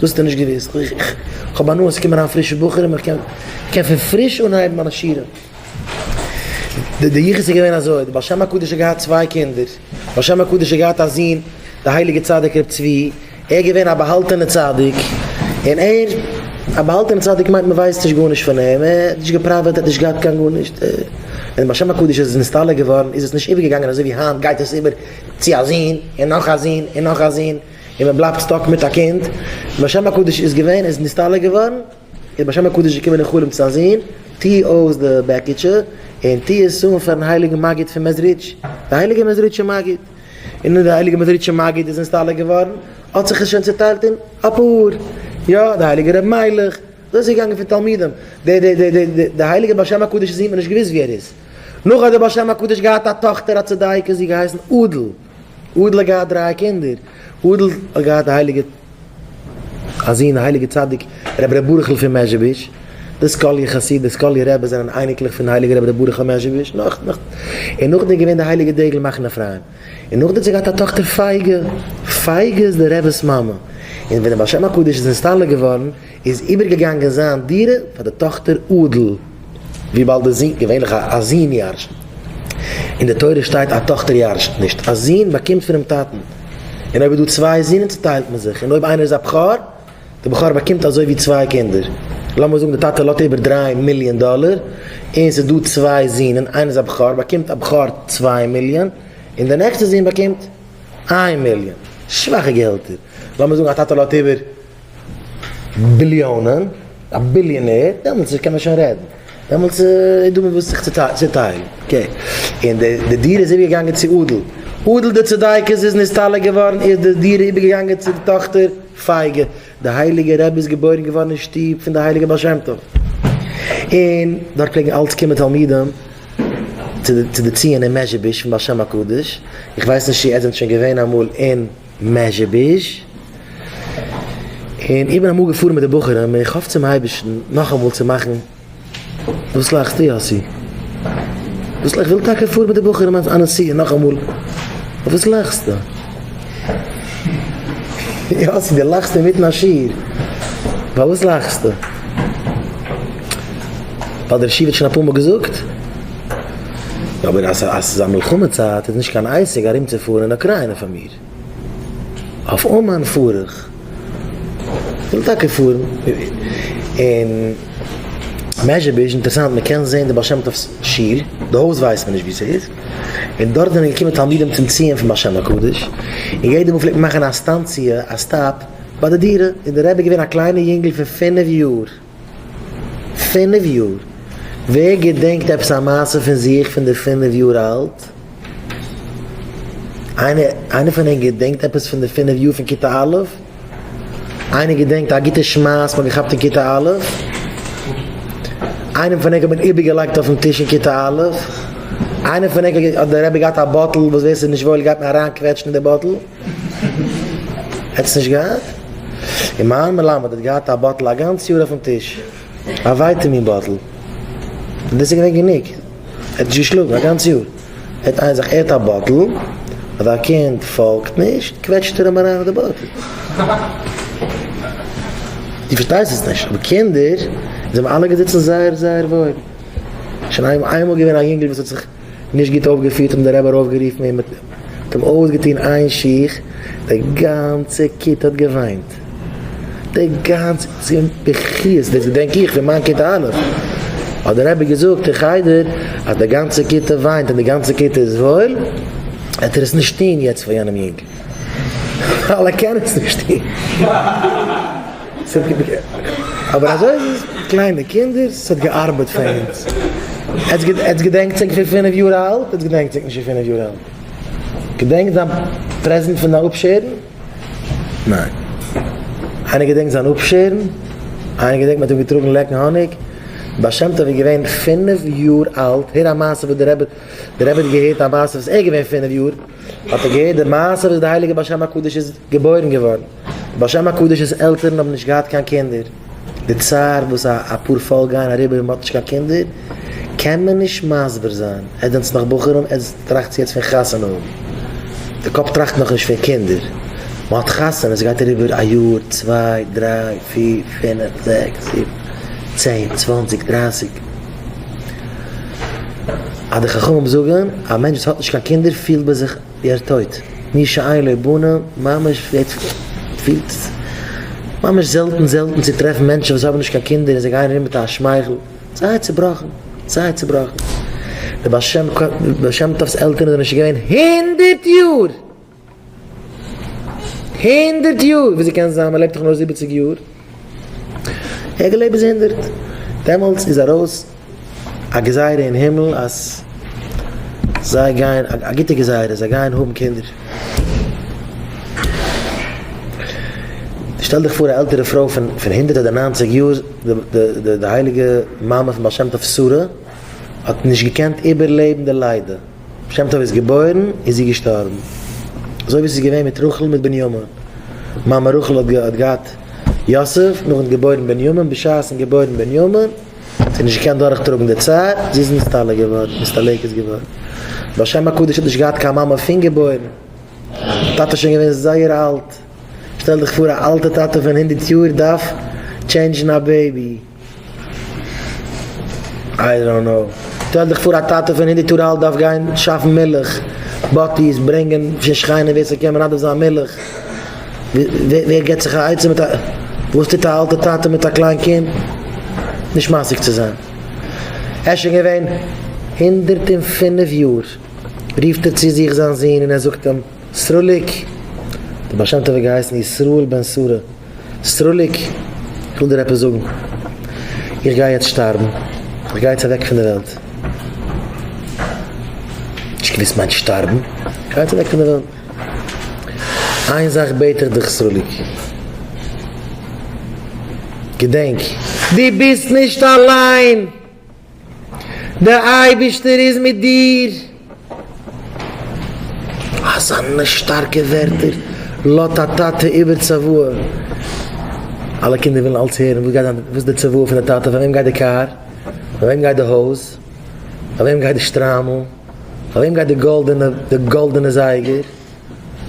דאס האט ער נישט געוואוסט. איך האב הנאה ס'קומען אריין פרישע בחורים איך קען קען פון פריש אנהייבן מיינע שיעורים. די יחוס איז געווען אזוי, די בעל שם הקדוש האט געהאט צוויי קינדער, די בעל שם הקדוש האט געהאט א זון די הייליגע צדיק ר' צבי, ער איז געווען א באהאלטענע צדיק, און ער, א באהאלטענע צדיק מיינט מ'ווייסט נישט גארנישט פון אים, ער האט נישט געפראוועט ער האט נישט געהאט קיין גארנישט, ווען די בעל שם הקדוש איז נסתלק געווארן איז עס נישט איבערגעגאנגען אזוי ווי היינט גייט עס איבער צו א זון און נאך א זון און נאך א זון. און מען בלייבט סטאק מיט א קינד, ווען השם הקדוש איז געווען איז נסתלק געווארן, איז השם הקדוש געקומען אין חלום צו א זון, טו אויס די בעקיטשע, און טו עס אן פארן הייליגן מגיד פון מעזריטש, די הייליגע מעזריטשע מגיד, און און די הייליגע מעזריטשע מגיד איז נסתלק געווארן, האט זיך עס שוין צוטיילט אין אפאר, יא, די הייליגע רבי מיילעך, אזוי איז געגאנגען פון תלמידים, די די די די די הייליגע בעל שם הקדוש זון מען נישט געוואוסט ווי ער איז, נאך האט די בעל שם הקדוש געהאט א טאכטער א צדיקה זי געהייסן אדל. אודל האט געהאט דריי קינדער, אודל האט געהאט די הייליגע א זון די הייליגע צדיק רבי ר' ברוכ'ל פון מעזשביזש, די סקאליע חסיד די סקאליע רבי זענען אייניקלעך פון הייליגע רבי ר' ברוכ'ל מעזשביזש נאך נאך און נאכדעם איז געווען די הייליגע דגל מחנה אפרים און נאכדערצו האט געהאט א טאכטער פייגא, פייגא איז די רב'ס מאמע און ווען די בעל שם הקדוש איז נסתלק געווארן איז איבערגעגאנגען זיין דירה פאר די טאכטער אדל, וויבאלד די זון, געווענליך א זון ירש'ט, אין די תורה שטייט א טאכטער ירש'ט נישט, א זון באקומט פונעם טאטן, און אויב איז דא צוויי זונען צוטיילט מען זיך, און אויב איינער איז א בכור, די בכור באקומט אזוי ווי צוויי קינדער, לאמיר זאגן די טאטע לאט איבער דרײַ מיליאן דאלער, און ס'איז דא צוויי זונען, איינער איז א בכור, באקומט א בכור צוויי מיליאן, און די נעקסטע זון באקומט איין מיליאן, שוואכע געהעלטער, לאמיר זאגן א טאטע לאט איבער. ביליאנען, א ביליאנער, דעמאלטס קען מען שוין רעדן, דעמאלטס איז דא מיט וואס זיך צו טיילן, אקעי, און די דירה איז איבערגעגאנגען צו אדל, אדל די צדיקת איז נסתלק געווארן איז די דירה איבערגעגאנגען צו די טאכטער פייגא, די הייליגע רבי איז געבוירן געווארן אין שטוב פון די הייליגע בעל שם טוב, און דארט פלעגן אלץ קומען תלמידים צו די ציון אין מעזשיבוזש פון בעל שם הקדוש, איך ווייס נישט צו איר זענט שוין געווען אמאל אין. מעזשביזש, און איך בין אמאל געפארן מיט די בחורים, און איך האף צום אייבערשטן נאכאמאל צו מאכן, וואס לאכסטו יאסי? וואס לאכסט? איך וויל טאקע פארן מיט די בחורים אויף א נסיעה נאכאמאל, אויף וואס לאכסטו? יאסי די לאכסט אינמיטן א שיעור, פאר וואס לאכסטו? האט דער ר' שיוועט שוין אפאר מאל געזאגט. אבער אז ס'איז א מלחמה צייט איז נישט קיין עסק ארומצופארן אין אוקריינע פאר מיר. אויף אומאן פאר איך. כ'וויל טאקע פארן. און מעזשביזש, אינטערעסאנט, מ'קען זען די בעל שם טוב'ס שול, די הויז ווייסט מען נישט וואו ס'איז, און דארט זענען געקומען תלמידים צום ציון פון בעל שם הקדוש, און יעדע מאל פלעגט מען מאכן א סטאנציע, א סטאפ, ביי די דירה, איז דער רבי געווען א קליינער יונגל פון פינף יאר. פינף יאר? ווער געדענקט עפעס א מעשה פון זיך פון די פינף יאר אלט? איינער איינער פון אונז געדענקט עפעס פון די פינף יאר פון כיתה א'? איינער געדענקט א גוטע שמייס מ'האט געכאפט אין כיתה א'? איינעם פון ענק האט מען איבערגעלייגט אויפן טיש אין כיתה א'? איינער פון ענק האט די רבי געהאט א באטל וואס ווער ס'איז נישט וואויל גייט מען אריינקוועטשן אין די באטל? האטס נישט געהאט? און מיין מלמד האט געהאט א באטל א גאנץ יאר אויפן טיש, א ווייטעמין באטל, און דאס איז געווען גענוג, ער האט נישט געשלאגן א גאנץ יאר, העט איינער זיך ער האט א באטל, אז א קינד פאלגט נישט קוועטשט ער אים אריין און די באטל. דו פארשטייסט עס נישט, אבער קינדער זענען אלע געזיצן זייער זייער וואויל, שוין איינמאל געווען א יונגל וואס האט זיך. נישט גוט אויפגעפירט האט אים דער רבי ארויפגערופן און מיט אים אויסגעטון איין שיך, די גאנצע כיתה האט געוויינט, די גאנצע כיתה האט זיך געוויינט בכיות, דאס געדענק איך פון מיין כיתה א', האט דער רבי געזאגט אין חדר אז די גאנצע כיתה וויינט און די גאנצע כיתה איז וואויל, וועט ער עס נישט טון יעצט פאר יענעם יונג, ווייל ער קען עס נישט טון. אבער אזוי איז עס קליינע קינדער עס האט געארבעט פאר אונז עטס געדענקטס ענק פון פינף יאר אלט עטס געדענקטס ענק נישט פון פינף יאר אלט געדענקט זיין פרעזענט פון די אפשערן ניין איינער געדענקט זיין אפשערן איינער געדענקט מ'האט אים געטראגן לעקן האניג בעל שם טוב איז געווען פינף יאר אלט הער א מעשה וואס די רבי די רבי האט געהערט א מעשה וואס ער איז געווען פינף יאר האט ער געהערט די מעשה וואס די הייליגע בעל שם הקדוש איז געבוירן געווארן. בשם הקדוש'ס עלטערן האבן נישט געהאט קיין קינדער, די צער וואס א א פאר פאלק גייען אריבער ווען מ'האט נישט קיין קינדער קען מען נישט מסביר זיין, עטס זענטס נאך בחורים עטס טראכטס יעצט פון חתונה האבן, די קאפ טראכט נאך נישט פון קינדער, מ'האט חתונה ס'גייט אריבער א יאר צוויי דריי פיר פינף זעקס זיבן צען צוואנציג דרייסיג, אז די חכמים זאגן א מענטש וואס האט נישט קיין קינדער פילט ביי זיך. ווי ער טויט מי שאין לו בנה, ממש יעצט פילט ממש זעלטן זעלטן צו טרעפן מענטשן וואס האבן נישט קיין קינדער און זיי גייען ארום מיט א שמייכל, זייער צובראכן זייער צובראכן, די בעל שם ק בעל שם טוב'ס עלטערן זענען שוין געווען הונדערט יאר הונדערט יאר, וויאזוי קען זיין מען לעבט דאך נאר זיבעציג יאר. איך געלעבט ביז הונדערט. דעמאלטס איז ארויס א גזירה אין הימל אז זיי גייען, א גוטע גזירה, זיי גייען האבן קינדער. שטעל דיך פאר א עלטערע פרוי פון הונדערט אדער ניינציג יאר, די הייליגע מאמע פון בעל שם טוב שרה האט נישט געקענט איבערלעבן די לידה. שם טוב איז געבוירן איז זי געשטארבן, אזוי ווי ס'איז געווען מיט רחל מיט בנימין, מאמע רחל האט האט געהאט יוסף, נאכן געבוירן בנימין, בשעת'ן געבוירן בנימין האט זי נישט געקענט דורך טראגן די צער, זי איז נסתלק געווארן, נסתלקת געווארן, והשם הקדוש האט נישט געהאט קיין מאמע פון געבוירן, טאטע שוין געווען זייער אלט, שטעל דיך פאר א אלטע טאטע פון הונדערט יאר דארף טשענדזשן א בעבי. איי דאנט קנאו. שטעל דיך פאר א טאטע פון הונדערט יאר אלט דארף גיין שאפן מילך, באטיס, ברענגען פון שכנים ווער ס'קען מנדב זיין מילך, ווער געבט זיך א עצה מיט א, וואס טוט א אלטע טאטע מיט א קליין קינד? נישט משיג צו זיין. ער איז שוין געווען הונדערט און פינף יאר, רופט ער צו זיך זיין זון און ער זאגט אים, סרוליק, דער בעל שם טוב האט געהייסן ישראל בן שרה, סרוליק, איך וויל דיר עפעס זאגן. איך גיי יעצט שטארבן. איך גיי יעצט אוועק פון די וועלט. נישט געוויסט מיינט שטארבן? איך גיי יעצט אוועק פון די וועלט. איין זאך בעט איך דיך סרוליק. געדענק, דו ביסט נישט אליין! דער אייבערשטער איז מיט דיר. אזאנע שטארקע ווערטער לאט א טאטע איבער צוואה. אלע קינדער ווילן אלץ הערן וואס גייט זיין, וואס איז די צוואה פון די טאטע, פאר וועם גייט די קאר, פאר וועם גייט די הויז, פאר וועם גייט די שטריימל, פאר וועם גייט די גאלדענע, די גאלדענע זייגער.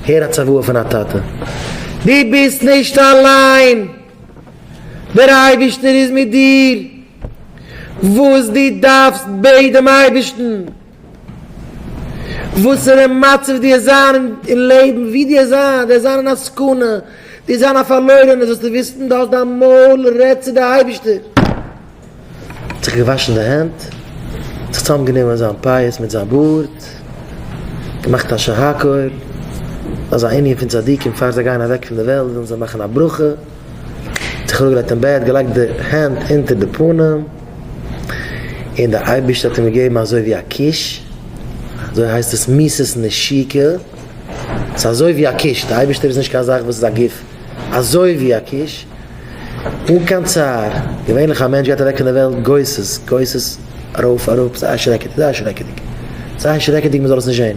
הער א צוואה פון א טאטע. דו ביסט נישט אליין! דער אייבערשטער איז מיט דיר, וואס דו דארפסט בעט דעם אייבערשטן, וואסערע מצב דו וועסט זיין אין לעבן, וואו דו וועסט זיין, דו וועסט זיין אין א סכנה, דו וועסט זיין א פארלוירענער, זאלסטו וויסן, דו האלסט דיין מויל, רעד צו די אייבערשטער. האט זיך געוואשן די הענט, זיך צוזאמגענומען זיין פאות מיט זיין בארד, געמאכט א שהכל, אז א ענין פון צדיקים פאר זיי גייען אוועק פון די וועלט ווילן זיי מאכן א ברכה, זיך אראפגעלייגט אין בעט, געלייגט די הענט אונטער די פנים, און די אייבערשטער האט אים געגעבן אזוי ווי א קיש, אזוי הייסט עס מיסס נשיקה, ס'אזוי ווי א קיש, די אייבערשטער איז נישט קיין זאך וואס איז א גוף, אזוי ווי א קיש, אן קיין צער, געווענליך א מענטש גייט אוועק פון די וועלט גוסס, גוסס, ארויף אראפ, זייער שרעקעדיג, זייער שרעקעדיג, זייער שרעקעדיג מען זאל עס נישט זען,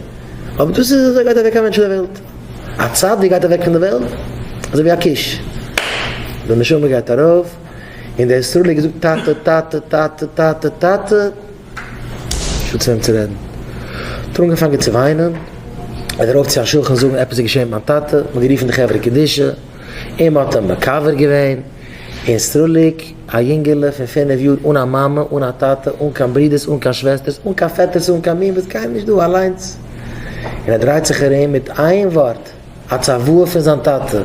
אבער דאס איז אזוי גייט אוועק א מענטש פון די וועלט, א צדיק גייט אוועק פון די וועלט אזוי ווי א קיש, די נשמה גייט ארויף, און דער סרולי געזאגט טאטע, טאטע, טאטע, טאטע, טאטע, נישטא צו וועם צו רעדן, האט ער אנגעפאנגען צו וויינען, איז ארויף צו א שכן זאגן עפעס איז געשען מיט מיין טאטע, מען האט גערופן די חברה קדישא. אים האט אים מקבר געווען אין סרוליק, א יונגעלע פון פינף יאר אן א מאמע אן א טאטע אן קיין ברודערס אן קיין שוועסטערס אן קיין פעטערס אן קיין מי וואס גייען נישט דא אליינס און ער דרייט זיך ארום מיט איין ווארט א צוואה פון זיין טאטע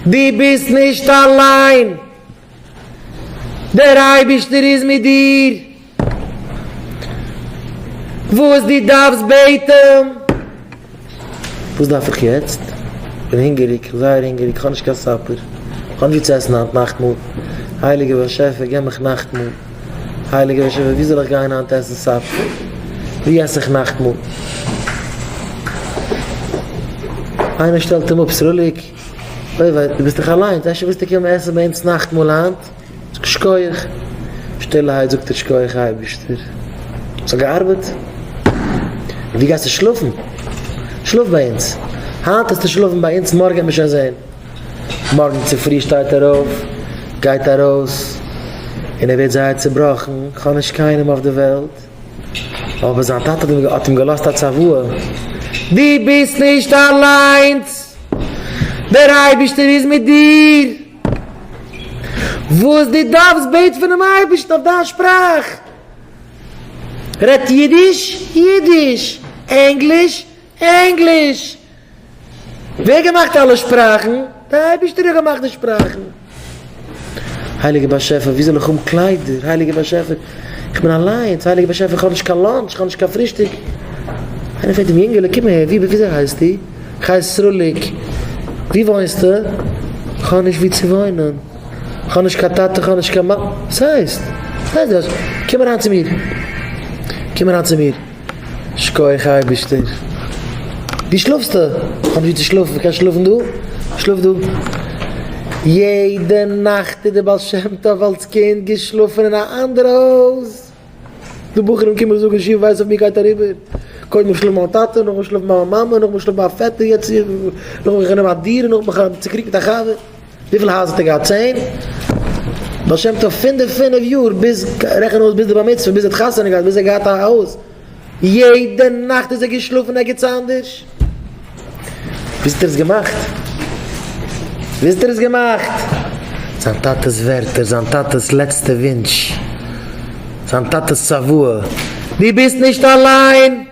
דו ביסט נישט אליין דער אייבישטער איז מיט דיר. וואס דו דארפסט בעטן. וואס דארף איך יעצט? איך בין הונגעריג, זייער הונגעריג, איך האב נישט קיין סאפער, איך האב נישט ווי צו עסן היינט נאכטמאל, הייליגער באשעפער געב מיך נאכטמאל, הייליגער באשעפער ווי זאל איך גיין היינט עסן סאפער, ווי עס איך נאכטמאל? איינער שטעלט אים אפ, סרוליק, אוי וויי, דו ביסט דאך אליינס, אפשר וועסטו קומען עסן ביי אונז נאכטמאל היינט? שקויעך. שטילערהייט זאגט ער שקויעך אייבישטער. ס'האט געארבעט. און ווי גייסטו שלאפן? שלאף ביי אונז. היינט העסטו שלאפן ביי אונז מארגן וועט מען שוין זעהן. מארגן צופרי שטייט ער אויף, גייט ארויס, און ער ווערט זייער צובראכן, כ'האב נישט קיינעם אויף די וועלט. אבער זיין טאטע האט אים האט אים געלאזט א צוואה. דו ביסט נישט אליינס. דער אייבישטער איז מיט דיר. וואס דו דארפסט בעט פונעם אייבערשטן אויף דיין שפראך, רעדט אידיש, אידיש, ענגליש, ענגליש, ווער געמאכט אלע שפראכן? די אייבערשטער האט געמאכט די שפראכן. הייליגער באשעפער ווי זאל איך האבן קליידער, הייליגער באשעפער איך בין אליינס, הייליגער באשעפער איך האב נישט קיין לאנטש, איך האב נישט קיין פרישטאג, איינער פרעגט אים יונגעלע קום אהער ווי וויאזוי הייסטו? חי סרוליק, ווי וואוינסטו? כ'האב נישט וואו צו וואוינען. כ'האב נישט קיין טאטע, כ'האב נישט קיין מאמע. וואס הייסט? וואס הייסט דאס? קום אריין צו מיר. קום אריין צו מיר. שכוח אייבערשטער. וואו שלאפסטו? כ'האב נישט וואו צו שלאפן. מ'קען שלאפן דא? שלאף דא. יעדע נאכט איז דער בעל שם טוב אלס קינד געשלאפן אין א אנדערע הויז. די בחורים קומען זאגן שיעור ווייס אויף מיר גייט אריבער קודם איך שלאף ביי מיין טאטע נאכדעם שלאף ביי מיין מאמע נאכדעם שלאף ביי א פעטער יעצט נאכדעם איך נעם א דירה נאכדעם איך האב צוקריגט מיט א חבר וויפיל הייזער האט ער געהאט צען? בעל שם טוב פון די פינף יאר ביז רעכן אויס ביז די בר מצוה ביז ער האט חתונה געהאט ביז ער האט געהאט א הויז יעדע נאכט איז ער געשלאפן ערגעץ אנדערש. וויסט איר עס געמאכט? וויסט איר עס געמאכט? זיין טאטע'ס ווערטער, זיין טאטע'ס לעצטע ווינטש, זיין טאטע'ס צוואה, דו ביסט נישט אליין,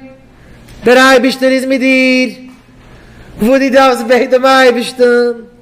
דער אייבערשטער איז מיט דיר, וואס דו דארפסט בעט דעם אייבערשטן.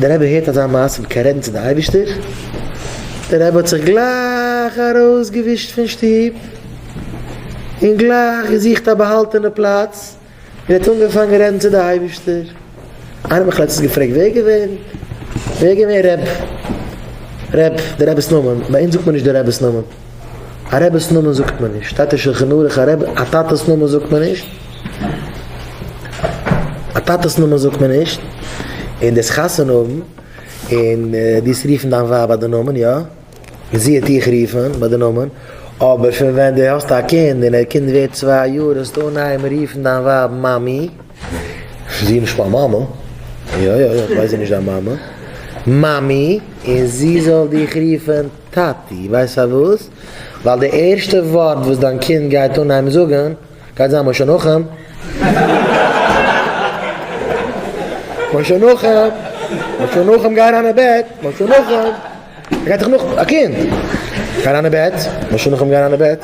דער רבי הערט אזא מעשה מיט קיין רעדן צו די אייבישטער, דער רבי האט זיך גלייך ארויס געווישט פון שטוב, און גלייך געזוכט א באהאלטענע פלאץ, און האט אנגעפאנגען רעדן צו די אייבישטער, איינער האט מיך לעצטענס געפרעגט ווער געווען ווער געווען ר' ר' דער רב'ס נאמען, ביי אונז זאגט מען נישט דער רב'ס נאמען. א רעבעס נאמען זאגט מען נישט, שטייט דער שלחן ערוך א רעבע, א טאטעס נאמען זאגט מען נישט, א טאטעס נאמען זאגט מען נישט, און דאס חתונה האבן, און דאס רופן דיין ווייב ביי די נאמען, יא, און זי וועט דיך רופן ביי די נאמען, אבער פון ווען דו האסט א קינד און דער קינד ווערט צוויי יאר זאלסטו אנהייבן רופן דיין ווייב מאמי. זי איז נישט מיין מאמע. יא יא איך ווייס זי איז נישט דיין מאמע. מאמי, און זי זאל דיך רופן טאטי. ווייסט פארוואס? ווייל די ערשטע ווארט וואס דיין קינד גייט אנהייבן זאגן גייט זיין משה נחום. משה נחום! משה נחום גיי אריין אין בעט! משה נחום! ער גייט דאך נאך א קינד. גיי אריין אין בעט. משא כ גיי אריין אין בעט.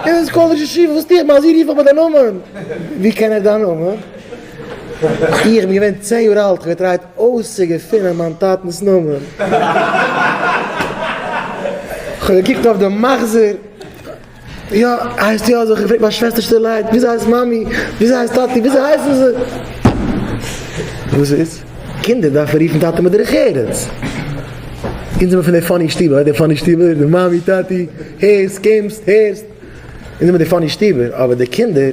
ער איז קאלידזש ישיבה וואס טו איך? מ'האט זי רוף איך ביי די נאמען. ווי קען ער דיין נאמען? איך בין געווען צען יאר אלט, כ'האב געטרייט אויסצוגעפינען מיין טאטנ'ס נאמען. כ'האב געקוקט אויף די מחזור. יא, הייסט יא אזוי, כ'פרעג מיין שוועסטער שטילערהייט, וויאזוי הייסט מאמי? וויאזוי הייסט טאטי? וויאזוי הייסן זיי? וואס איז? קינדער דארפן רופן טאטע מיט דרך ארץ. אונז זעמער פון די פאני שטיבער, ווייסט די פאני שטיבער? די מאמי טאטי, הערסט, קומסט, הערסט. אונז זעמער די פאני שטיבער, אבער די קינדער.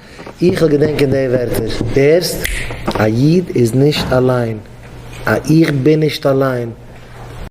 איך וויל געדענקען די ווערטער. הערסט? א איד איז נישט אליין. א איך בין נישט אליין.